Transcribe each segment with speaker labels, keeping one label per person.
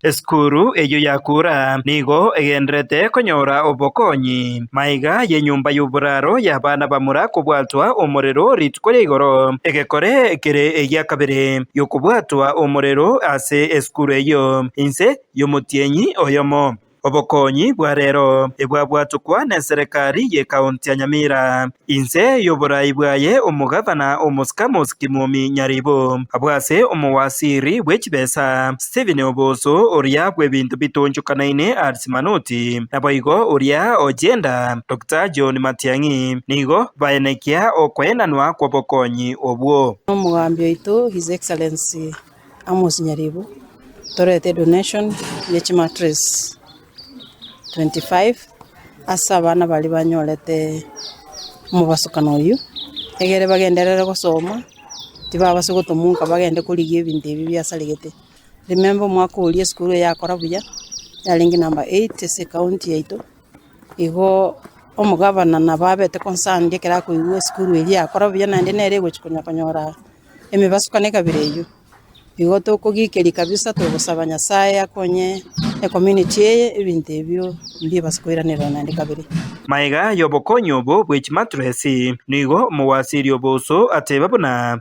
Speaker 1: Esukuru eyio y'akura nigo egendererete konyora obokonyi. Maiga y'enyomba y'oboraro y'abana bamura kobwatwa omorero rituko ria igoro. Egekore kere egia kabere gi'okobwatwa omorero ase esukuru eyio inse y'omotienyi oyomo. Obokonyi bwa rero ebwabwatokwa n'enserekari y'ekaonti ya Nyamira. Inse y'oborai bwaye omogavana omosika Mosiki Mwomi Nyaribo abwo ase omowasiri bwe chibesa Stephen Oboso, oria bw'ebinto bitoonchokanaine Alice Manoti, naboigo oria o Gender Doctor John Matiang'i nigo baenekia okoenanwa kw'obokonyi obwo. Omogambi oito
Speaker 2: His Excellency Amos Nyaribo, torete donation ye chimattress 25 ase abana baria banyorete omobasukano oyio, egere bagenderere gosoma, tibabasa gotomoka bagende korigia ebinto ebi biasaregete. Remember omwaka oria esukuru eye yakora buya, yarenge number eight ase ekaonti yaito, igo omogabana nabo abete concerned ekero akoigwa esukuru eria yakora buya naende nere ogochia konya konyora. Emebaso kane kabere eyio, nigo tokogikeria kabisa togosaba Nyasae akonye ecommunity eye ebinto ebio mbibase koiranerwa naende kabere. Maiga y'obokonyi
Speaker 1: obo bwe chimattress, nigo omogwasiri obo uso ateba
Speaker 3: buna.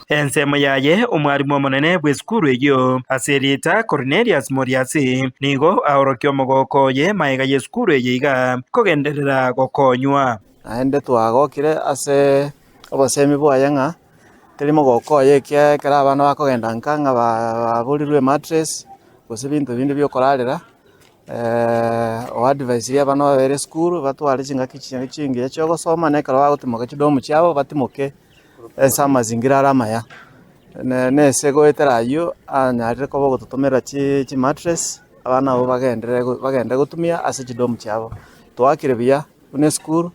Speaker 3: Ensemo yaye
Speaker 1: omwarimu omonene bw'esukuru eyio ase erieta Kornelius Moriasi nigo aorokia omogooko oye magega y'esukuru eye iga, Kogenderera gokonywa. Naende
Speaker 4: twagokire ase obosemi bwaye ng'a teri mogooko oye ekiagera ekero abana bakogenda nka ng'a baburirwe emattress gose ebinto binde bi'okorarera. Oadvisirie abana babere esukuru batware chingaki chiaye chingiya chi'ogosoma na ekero bagotimoka chidomu chiabo batimoke ase amazingira are amaya, na na ese goetera aywo anyarire koba ogototomerera chi chi mattress, abana abwo bagenderere go bagende gotumia ase chi dom chiabo. Toakire buya buna esukuru,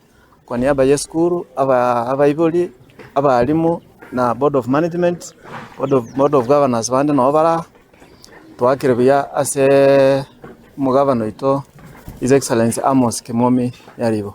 Speaker 4: kwa niaba ya esukuru, abaa abaibori, abalimu, na board of management, board of board of governors bande nabo baraa, toakire buya aseeee omogabana oito His Excellency Amos Kimomi Nyaribo.